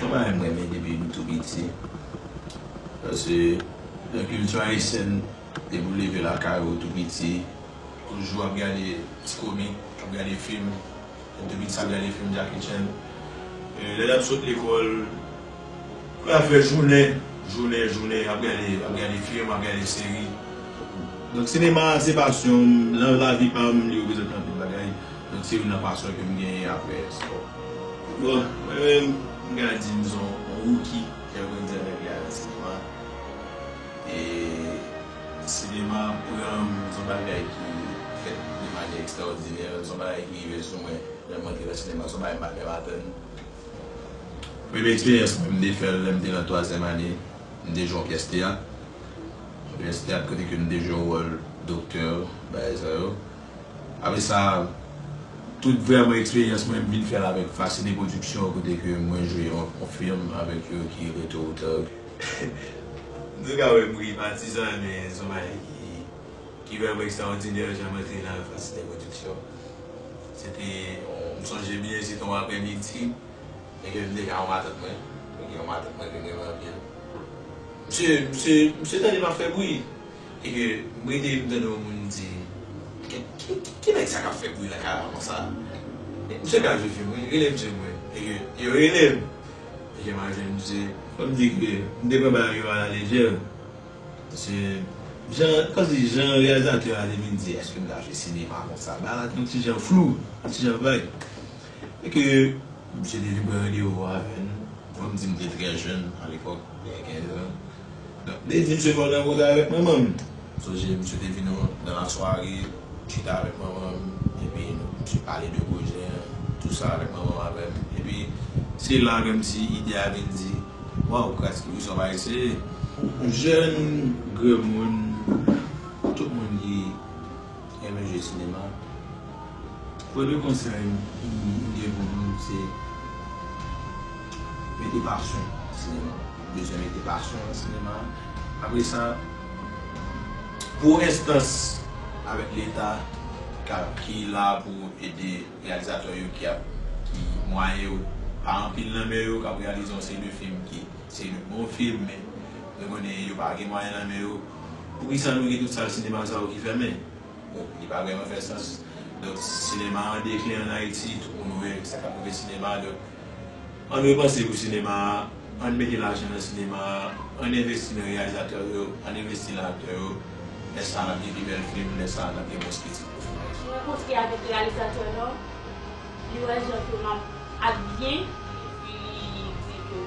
Yon bagay m renmen depi m tou piti, se nan kilti ayisyèn, depi w leve lakay ou tou piti, toujou ap gade ti komik, ap gade fim. Mwen te pi ti sa m gade film Jackie Chan. Lè n ap sot lekòl, lè n ap fè jounen, jounen, jounen ap gade, ap gade film, ap gade seri. Donk sinema a se pasyon m, nan lavi pa m li reprezante anpil bagay. Donk se youn nan pasyon ke m genyen aprè espò. Bon, mwen menm, m ka di m se yon rookie ki ap grandi avèk lè a nan sinema. E sinema an pranm, se yon bagay ki fèt de manyè ekstraòdinè, se yon bagay ki rive sou mwen lè m antre nan sinema, se yon bagay m pa menm atann. Premye eksperyans mwen, m te fè l lè m te nan twazyèm ane, m te jwe yon pyès teyat, yon pyès teyat kote ke m te jwe wòl doktè, bagay sa yo. Apre sa, tout vrèman eksperyans mwen, m vin fè l avèk Fascine Production kote ke mwen jwe yon fim avèk yo ki rete Otan. Nou ka wè m ri patizan an men son bagay ki vrèman ekstrawòdinè jan m antre nan Alphas Lè Production. Se te m sonje byen se te yon aprè midi e ke m te ka yon matant mwen e ke yon matant mwen te m renmen anpil. Msye msye msye tande m ap fè bri e ke m rete m tande yon moun di ki nèg sa k ap fè bri nan kay la konsa? Msye ka jwe fim wi rele msye mwen e ke yo rele m. Jan map jwenn misye. Fòm di ke m te pran bagay yo a la lejè. Paske jan fòm di jan reyalizatè a te vin di eske m ta jwe sinema konsa. Bagay la te yon ti jan flou, yon ti jan vag. E ke misye te vin pran randevou avè n. Fòm di m te trè jèn a lepòk, gen 15 an. Nan dezi misye fè w nan koze avèk manman m. M sonje misye te vin yon nan lasware chita avèk manman m epi misye pale de pwojè an tou sa avèk manman m avè m epi se la ke m ti ide a vin di waw kras ki wisòp a eseye. Jèn, granmoun, tout moun ki. Renmen jwe sinema. Premye konsèy m gen pou nou se mete pasyon nan sinema. Nou bezwen mete pasyon nan sinema. Apre sa, pou enstans avèk leta ki la pou ede reyalizatè yo ki mwayen yo pa anpil nan men yo k ap reyalize yon seri de fim ki se de bon fim men nou konnen yo pa gen mwayen nan men yo. Poukisa nou gen tout sal sinema sa yo ki fèmen? Bon, li pa vrèman fè sans. Donk, sinema an deklin an Ayiti, tout moun wè sa k ap rive sinema a. Donk, ann repanse pou sinema a, ann mete lajan nan sinema a, ann envesti nan reyalizatè yo, ann envesti nan aktè yo. Lè sa a, n ap gen pi bèl fim, lè sa a, n ap gen mwens kritik. Mwen rankontre avèk reyalizatè yo, li wè jan ke m ap ak byen epi li di ke.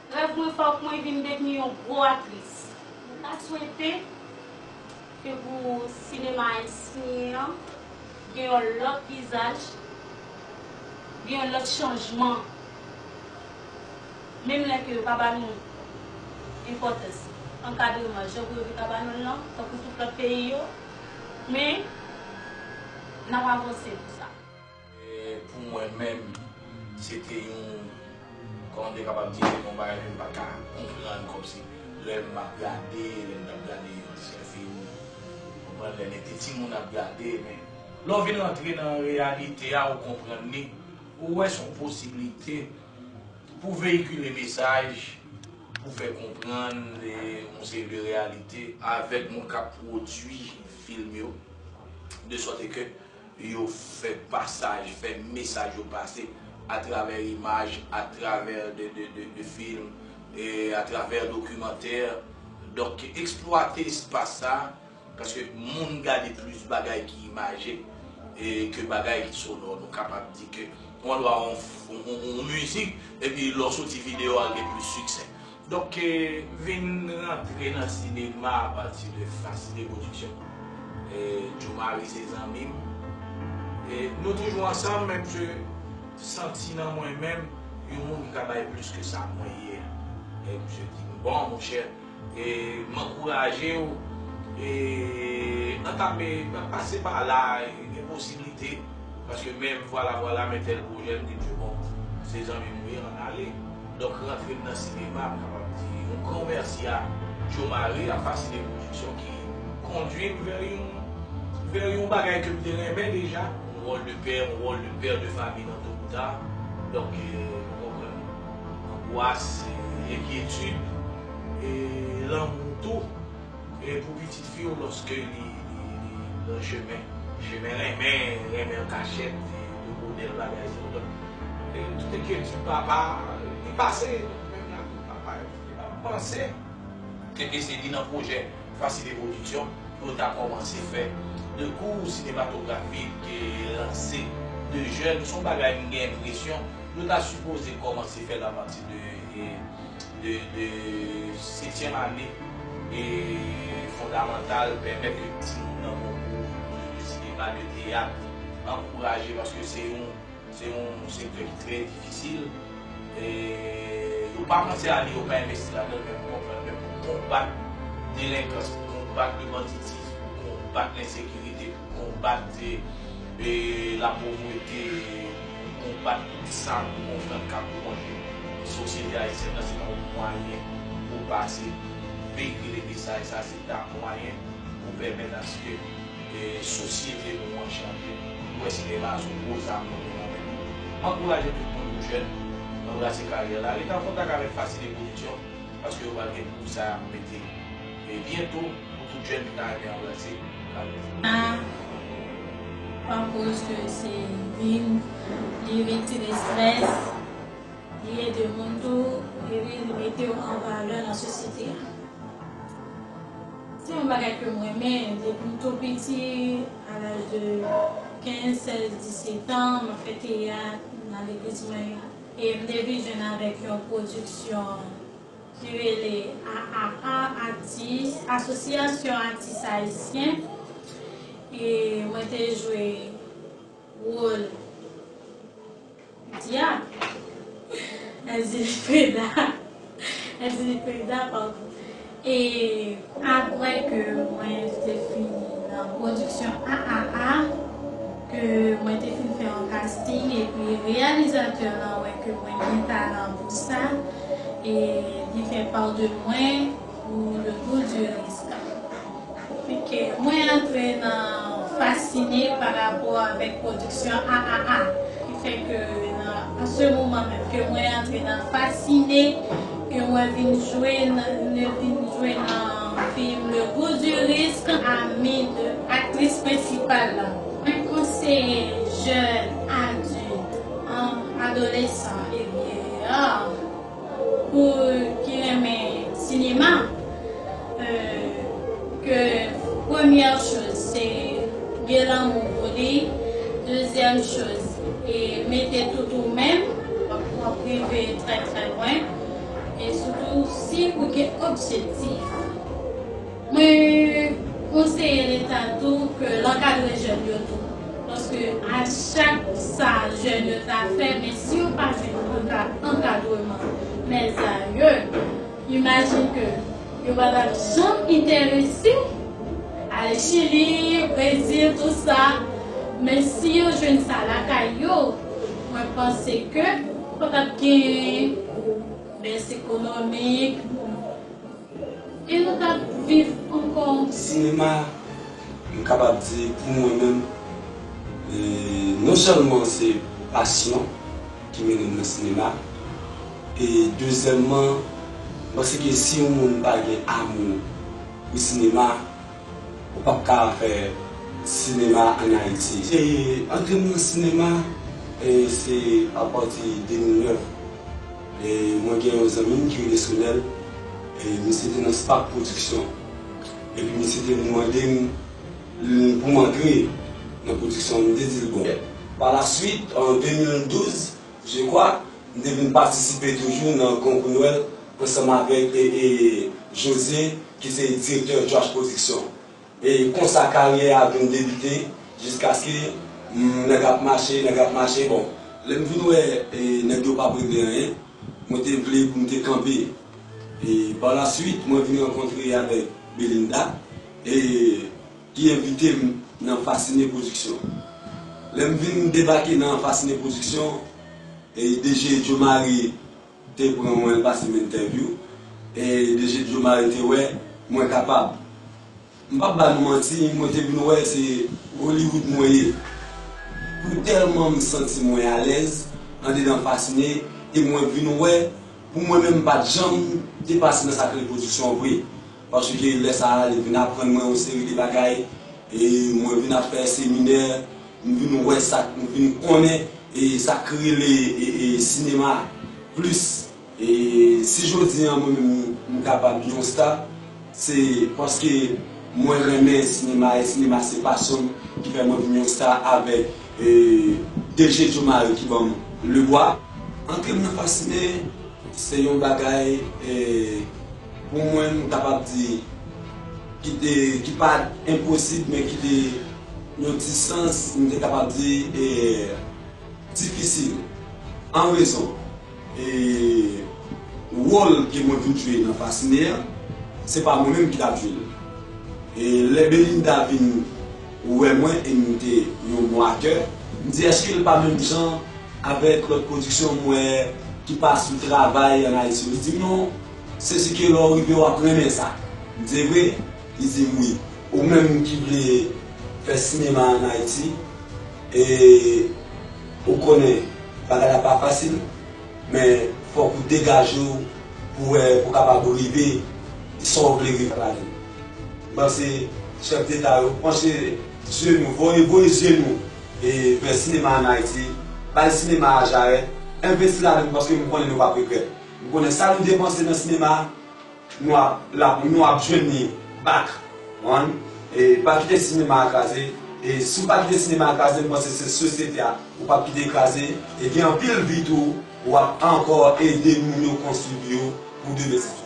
Rèv mwen fòk mwen vin devni yon gwo aktris. Mwen ta swete ke pou sinema ayisyen an gen yon lòt vizaj, gen yon lòt chanjman, menm lè ke yo pa ba nou enpòtans ankadreman jan pou yo te ka ba nou l lan, tankou tout lòt peyi yo, men n ap avanse pou sa. Pou mwen menm, se te yon, kòman m te kapab di, se te yon bagay ke m pa t ka konprann, kòmsi lè m ap gade, lè m t ap gade ansyen fim, ou konprann, lè n te timoun ap gade, men lè w vin rantre nan reyalite a, ou konprann li, ou wè se yon posiblite pou veyikile mesaj, pou fè konprann yon seri de reyalite. Avèk moun k ap pwodui fim yo, de sòt e ke Yo fè pasaj, fè mesaj yo pase atravè imaj, atravè de film, atravè dokimantè. Donk eksplwate espas sa a, paske moun gade plis bagay ki imaje ke bagay ki sonò. Nou kapab di ke ou andwa yon mizik epi lè w soti videyo a l gen plis siksè. Donk vin rantre nan sinema a pati de Facilite Production. Djo Marie se zanmi m. Nou toujou ansanm men misye santi nan mwen menm yon moun ki ka bay plis ke sa mwen ye a. Misye di m bon monchè m ankouraje w e an ta pe pase pa la gen posiblite. Paske menm vwala vwala men tèl pwojè m di m se bon se zanmi m ou ye ann ale. Donk rantre m nan sinema m kapab di yon gran mèsi a Djo Mari ak Fasine Production ki kondui m vè yon vè yon bagay ke m te renmen deja. Yon wòl de pè, yon wòl de père de famille nan to ou ta. Donk nou konprann angwas, enkyetid e lanmou tou. E pou pitit fi w loske li nan chemen. Chemen renmen, renmen an kachèt, de modèl bagay sa yo. Donk, tout enkyetid papa, li pase menm jan ak papa yo. Li pa panse ke te se li nan pwojè Facilite Production pou yo ta kòmanse fè 2 kou sinematografi ke lanse 2 jèn. Se yon bagay m gen enpresyon yo ta sipoze kòmanse fè l apati de de setyèm ane e fondamantal pèmèt ke timoun nan bon kou toujou de sinema, de teyat ankouraje paske se yon se yon sektè ki trè difisil e yo pa panse a li yo pa envesti ladan l men pou konprann men pou konbat delenkans pou konbat le banditisme pou konbat lensekirite pou konbat lapovrete. Konbat tout sa nou konprann kap wonje sosyete ayisyèn nan se yon mwayen pou pase veyikile mesaj sa se ta mwayen pou pèmèt aske sosyete nou an chanje nou wè se evazyon gwo zam nou gen nan men nou m ankouraje tout moun nou jèn anbrase karyè la ret an kontak avèk fasilite pwodiksyon paske yo pral gen pou sa yap mete. Men byento pou tout jèn ki ta renmen anbrase Carlito. Sa pa koz ke se vin li retire stress, li ede moun tou epi li metew an valè nan sosyete a. Se yon bagay ke m renmen depim tou piti a laj de 15, 16, 17 ans map fè teyat nan legliz mwen e m te vin jwenn avèk yon pwodiksyon ki rele AAA Atis, Asosyasyon Atis Ayisyen, e mwen te jwe wol Dyab, Èzili Freda, Èzili Freda, padon, e. Aprè ke mwen te fini nan pwodiksyon AAA, ke mwen te fin fè yon kasting epi reyalizatè lan wè ke mwen gen talan pou sa e li fè pa de mwen pou Le Goût du Risque. Fenke mwen antre nan fasine pa rapò avèk pwodiksyon AAA ki fè ke nan a se moman menm ke mwen antre nan fasine. Ke mwen vin jwenn ne vin jwenn nan film le gout du risk amid aktris prensipal la. Mwen konseye jèn adilt an adolesan e vyeyar pou ki renmen sinema. ke premyè choz se gen lanmou pou li dezyèm choz e mete tout ou menm wap rive trè trè lwen e sitou si ou gen objektif mwen konseye leta tou ke l ankadre jèn yo tou paske a chak sa jèn yo ta fè men si yo pa jwenn ankadreman mèt sa yo. Imagine ke yo pa tap janm interese ale chili, brezil tout sa men si yo jwenn sa lakay yo mwen panse ke pa tap gen bès ekonomik e nou tap viv ankò. Sinema m kapab di pou mwen menm non sèlman se pasyon. ki mennen m nan sinema e dezyèmman m panse ke si yon moun pa gen amou pou sinema ou pap ka fè sinema an Ayiti. E antre m nan sinema se apati 2009 e mwen gen yon zanmi m ki rele Sonel e misye te nan Spak pwodiksyon epi misye te vin mande m. pou m antre nan pwodiksyon, m te di l bon. Pa la swit, an 2012, je kwa, m te vin patisipe toujou nan konkou nwèl ansanm avèk Jose ki se direktè Jwash Pwodiksyon. E konsa karyè a vin debite jiskaske nèg ap mache, nèg ap mache. Bon, lè m vin wè nèg yo pap regle anyen, mwen te vle pou m te kanpe. E pa la swit, mwen vin rankontre avèk Belinda. e ki envite m nan Fascine Production. Lè m vin debake nan Fascine Production, DG Djo Mari te pran mwen pase m entèvyou, e DG Djo Mari te wè mwen kapab. M pap ba nou manti, mwen te vin wè se Hollywood mwen ye. Pou tèlman m santi mwen alèz andedan Fascine e mwen vin wè pou mwen menm m pat janm te pase nan sa k rele production vre. Paske lè sa a, li vin aprann mwen yon seri de bagay, e mwen vin ap fè seminè, m vin wè sa k, m vin konnen e sa k rele e sinema plis. E si jodi an mwen menm m kapab yon sta, se paske mwen renmen sinema e sinema se pasyon m ki fè mwen vin yon sta avèk DG Djomari ki ban m lebwa. Antre m nan fascine se yon bagay e. Pou mwen m kapab di ki te ki pa enposib men ki te yon ti sans m te kapab di e difisil an rezon e wòl ke mwen vin jwe nan fasine an se pa mwen menm ki t ap jwe l e lè Belinda vin wè mwen e m te yon bon aktè m di èske l pa menm jan avèk lòt pwodiksyon m wè ki pa sou travay an Ayiti li di m non. Se si ke lè w rive wap renmen sa. M di vre? Li di m wi. Ou menm ki vle fè sinema an Ayiti e ou konnen bagay la pa fasil men fòk ou degaje w pou wè pou kapab rive sa w vle rive nan lavi. M panse chèf deta yo panche zye nou, voye voye zye nou vè sinema an Ayiti, bay sinema a jarèt, envesti ladan l paske m konnen nou pap regrèt. Ou konnen sa nou depanse nan sinema nou ap la pou nou ap jwenn li back one e pa kite sinema a kraze e si w pa kite sinema a kraze m panse se sosyete a ou pap kite kraze e gen anpil vi tou wap ankò ede moun yo konstwi pou yo pou demen sitou.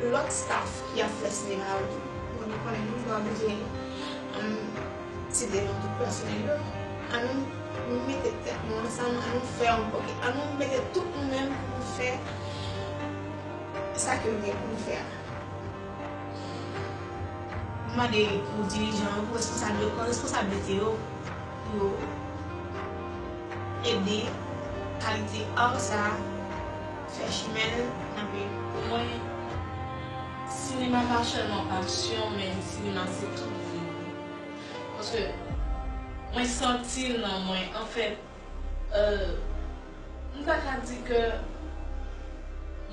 Lòt staff ki ap fè sinema yo tou bon nou konnen nou pran nou gen ti demon tout pèsonèl yo an nou mete tèt nou ansanm an nou fè ankò ke an nou mete tout nou menm pou nou fè sa ke nou gen pou nou fè a m mande pou dirijan yo pou responsab yo pran responsablite yo pou yo ede kalite art sa. Fè chimen l kanpe pou mwen Sinema pa sèlman pasyon men sinema se tout vi m paske mwen santi l nan mwen anfèt m ta ka di ke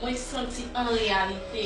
mwen santi an reyalite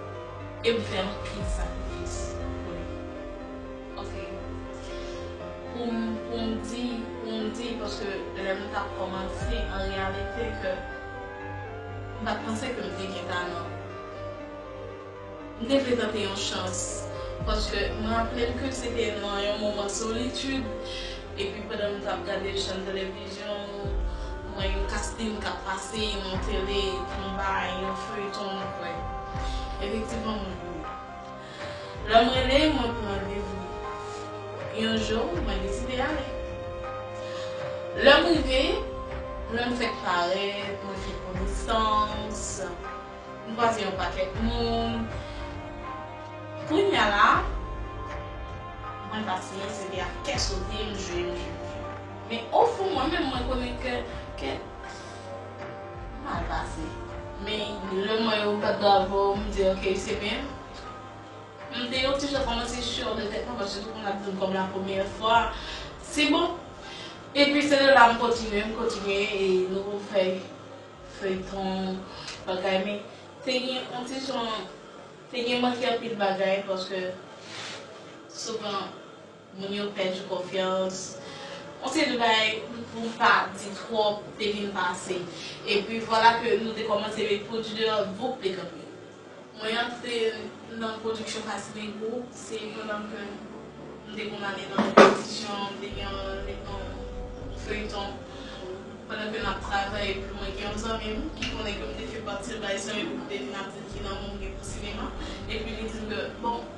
E m fè anpil sakrifis pou li. Ok. Pou m pou m di pou m di paske lè m t ap kòmanse an reyalite ke m pa t panse ke m te gen talan. M te vle tante yon chans paske m raple m ke se te nan yon moman solitid. Epi pandan m tap gade chèn televizyon m wè yon kasting kap pase yon tele konba yon feyton mwen kwè efektivman mwen ri lè m rele mwen pou randevou yon jou mwen deside ale lè m rive lè m fèk parèt mwen fè konesans M kwaze yon pakèt moun. Kounya la, mwen pa siyen se te ak kè sote m jwenn li. Men ofon mwen menm mwen konnen ke ke m mal pase. Men lè m wè yo bat bravo, m di ok se byen. M te yon ti jan kòmanse sure de tèt mwen paske tout moun ap di m kòm la premyè fwa, se bon. Epi se de la m kontinye, m kontinye e nou fè feyton bagay men te gen yon ti jan te gen manke anpil bagay paske souvan moun yo pèdi konfyans yon seri de bagay pou m pa di twòp te vin pase epi vwala ke nou te kòmanse met pwodui deyò bouk te kanpe. Mwen antre nan pwodiksyon Fas Negro, se pandan ke m te konn ale nan repetisyon, m te gen yon feyton, pandan ke n ap travay epi mwen gen yon zanmi m ki konnen ke m te fè pati l bay san yo pou m te vin ap di l ki lanmou m gen pou sinema epi li di m ke bon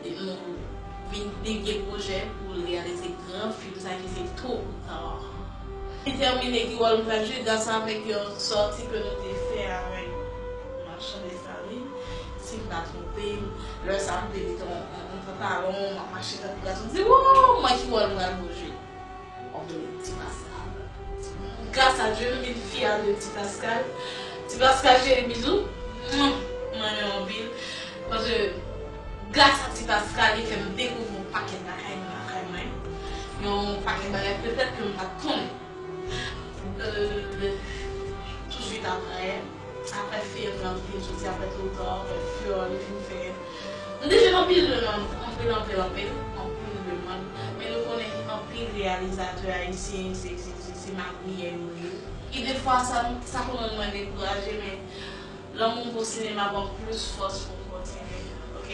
E nou vin pi gen pwojè pou l reyalize gran fim sa ki se Tôt ou Tard. Li tèmine ki wòl m pral jwe gras avèk yon sòti ke nou te fè avèk Machan Desalin, si m pa twonpe m. Lè sa a m te met yon pantalon, m ap mache tankou gason, m di, Woo! Mwen ki wòl m pral jwe? Antoinette, Ti Pascal Gras a Dye nou vin fyè de Ti Pascal Ti Pascal cheri bizou Mwen renmen w anpil paske gras a Ti Pascal li fè m dekouvri yon pakèt bagay nan lakay mwen yon pakèt bagay petèt ke m pat konnen Touswit aprè Aprè film nan vin soti aprè twop tan aprè fyol li fin fè nou te jwenn anpil demann anpil anpil anpil anpil demann men nou konnen gen anpil reyalizatè ayisyen se se se se magouyè yo ye e defwa sa nou sa konn rann mwen dekouraje men lanmou m pou sinema banm plis fòs poum kontinye ok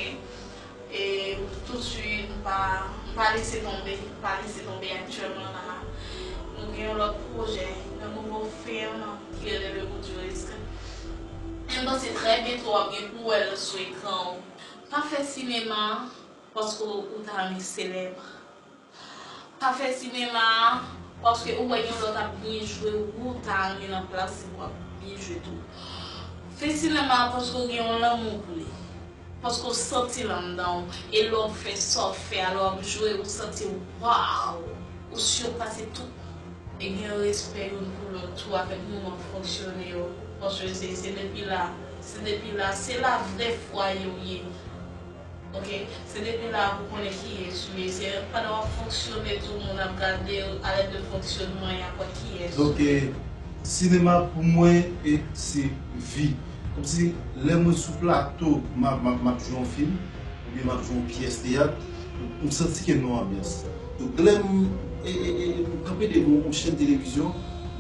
E tout suit m pa m pa lese tonbe m pa lese tonbe aktyèlman la a nou gen yon lòt pwojè yon nouvo film ki rele le gout du risque e m panse trè byento w ap gen pou wè l sou ekran w pa fè sinema paske w ta renmen selèb. Pa fè sinema a paske ou wè yon lòt ap byen jwe wou ta renmen nan plas li wap byen jwe tou. Fè sinema a paske ou gen yon lanmou pou li. Paske ou santi l anndan w e lè w fè sa w fè a lè wap jwe ou santi waww ou sirpase tout moun. E gen respè youn pou lòt tou avèk moman fonksyone yo paske se depi la se depi la se la vrè fwaye w ye. Ok se depi la pou konnen kiyes ou ye se pandan wap fonksyone tou moun ap gadel alèd de fonksyonman yap wè kiyes ou ye. Ok sinema pou mwen se vi komsi lè mwen sou plato map jwe yon fim oubyen map jwe yon pyès teyat m santi kem nan yon anbyans donk lèm kanpe devan yon chèn televizyon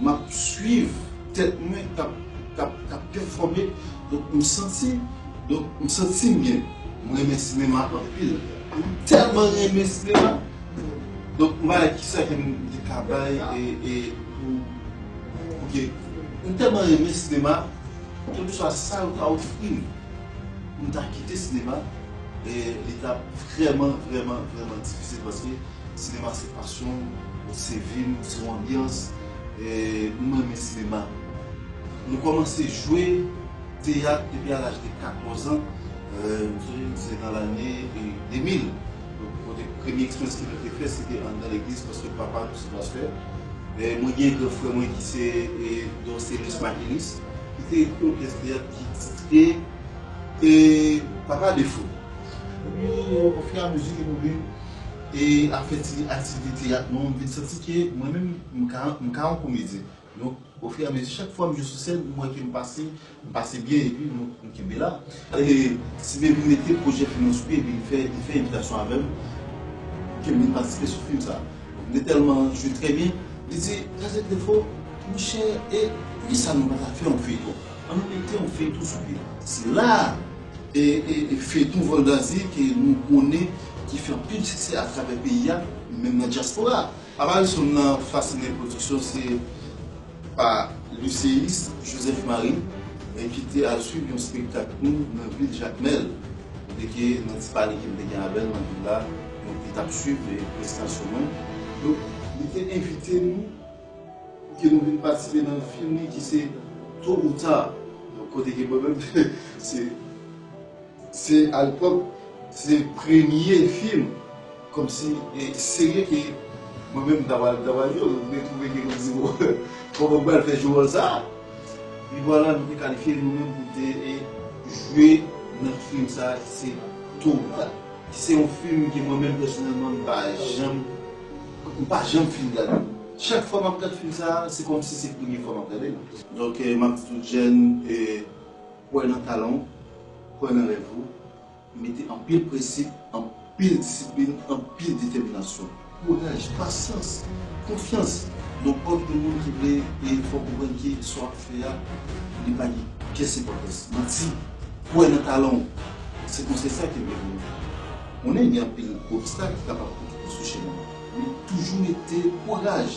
map swiv tèt mwen kap pèfòme donk m santi Donk m santi m byen. M renmen sinema anpil. M tèlman renmen sinema. Donk m pa wè kisa ke m te ka bay e pou pou ke m tèlman renmen sinema kèlkeswa sa yo ta ofri m pou m ta kite sinema e li ta vrèman vrèman vrèman difisil paske sinema se pasyon m, se vi m, se yon anbyans e m renmen sinema. Nou kòmanse jwe. teyat depi a laj de 14 an, m sonje se nan lane 2000, kote premye eksperyans ke mwen te fè se te anndan legliz paske papa m se pastè. Mwen gen gran frè mwen ki se Dorcélus Maquinis ki te yon pyès teyat ki titre Papa Defo. Epi ofiramezi ke nou vin ap fè ti aktivite teyat nou, m vin santi ke mwen menm m ka yon komedyen. Donk o fur et à mesure chak fwa m jwe sou sèn m wè ke m pase, m pase byen epi m kenbe la. E si Baby mete pwojè fim nan sou pye epi li fè li fè envitasyon avè m pou ke m vin patisipe sou fim sa. M te tèlman jwe trè byen, li di, Kazèk Defo, monchè e poukisa nou pa ta fè yon feyton? An nou mete yon feyton sou pye. Se la a e feyton Voldazi ke nou konnen ki fè anpil siksè atravè peyi a, menm nan dyaspora. Avalsonn nan Fascine Production se pa Lucéus Joseph Marie e ki te al swiv yon spektak nou nan vil Jakmèl e ke nan ti pale ke m te gen avè l nan vil la donk li t ap swiv prestasyon mwen donk li te envite nou pou ke nou vin patisipe nan fim li ki se To ou Ta donk kote ke mwen menm se. Se alepòk se premye fim kòmsi serye ke mwen menm m ta pral travay yo, mwen twouve ke mwen di bon kòman m pral fè jwe wòl sa. E vwala nou te kalifye nou menm pou te jwe nan fim sa ki se Toma ki se yon fim ke mwen menm pèsonèlman m pa janm m pa janm fin gade l. Chak fwa m ap gad fim sa se kòmsi se premye fwa m ap gade l. Donk m ap di tout jèn. Kwè nan talan ou, kwè nan rèv ou, mete anpil prensip, anpil disiplin, anpil detèminasyon. Kouraj, pasyans, konfyans nan pwòp yon moun ki vle e fè w konprann ke sa w ap fè a li pa gen pyès enpòtans. Manti, kwè nan talan ou, se konsèy sa ke m gen pou nou. Konnen gen anpil obstak ki kapab koute w sou chemen an, men toujou mete kouraj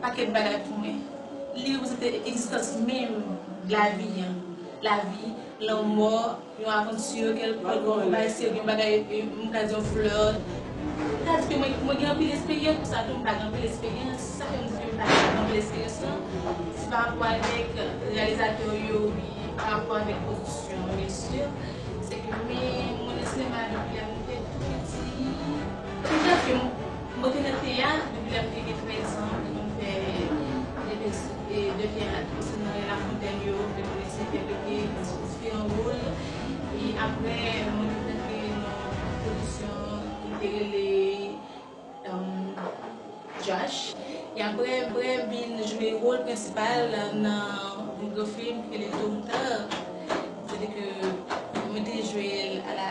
Paket bagay pou mwen. Li reprezante egzistans menm lavi an. Lavi, lanmò, yon avanti, kèlkonk bagay, se yon bagay, m ka di yon flè. M ka di ke mwen gen anpil esperyans pou sa tou, m pa gen anpil esperyans. Sa fè m di ke m pa gen anpil esperyans lan, se pa rapò avèk reyalizatè ou yo wi, pa rapò avèk pwodiksyon an byen si. Se ke mwen, mwen nan sinema depi lè m te tou piti. M ka di ke m. Mwen te nan teyat depi lèm te gen 13 zan e konn fè de pèse e de teyat pèse nan rue Lafontaine yo lè mwen te CPE pete paske se te yon wol e aprè mwen te rantre nan production ki te rele Jach e aprè mwen vin jwe wol prensipal nan yon gran film ki rele Tôt ou tard se te ke mwen te jwel a la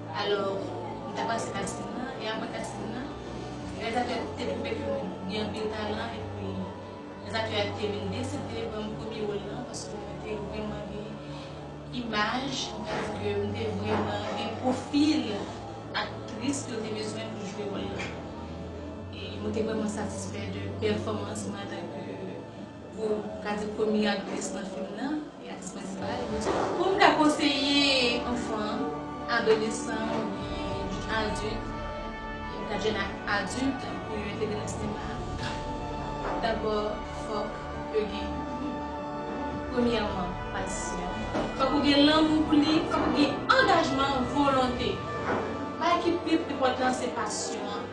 Alò, m ta pase kasin nan, e apre kasin nan, reyalizatè a te twouve ke mwen gen anpil talan, epi reyalizatè a te vin deside ban m premye wòl lan, paske mwen te vrèman gen imaj, m ka di ke m te vrèman gen pwofil aktris yo te bezwen pou jwe wòl lan. E mwen te vrèman satisfè de pèfòmans mwen antanke. Pou ka di premye aktris nan fim nan e aktris prensipal la. Pou m ka konseye anfan an, adolesan oubyen adilt, e ka jèn ak adilt pou yo entegre nan sinema a, dabò fòk yo gen premyèman pasyon, fòk ou gen lanmou pou li, fòk ou gen angajman, volonte. Bagay ki pi enpòtan se pasyon an.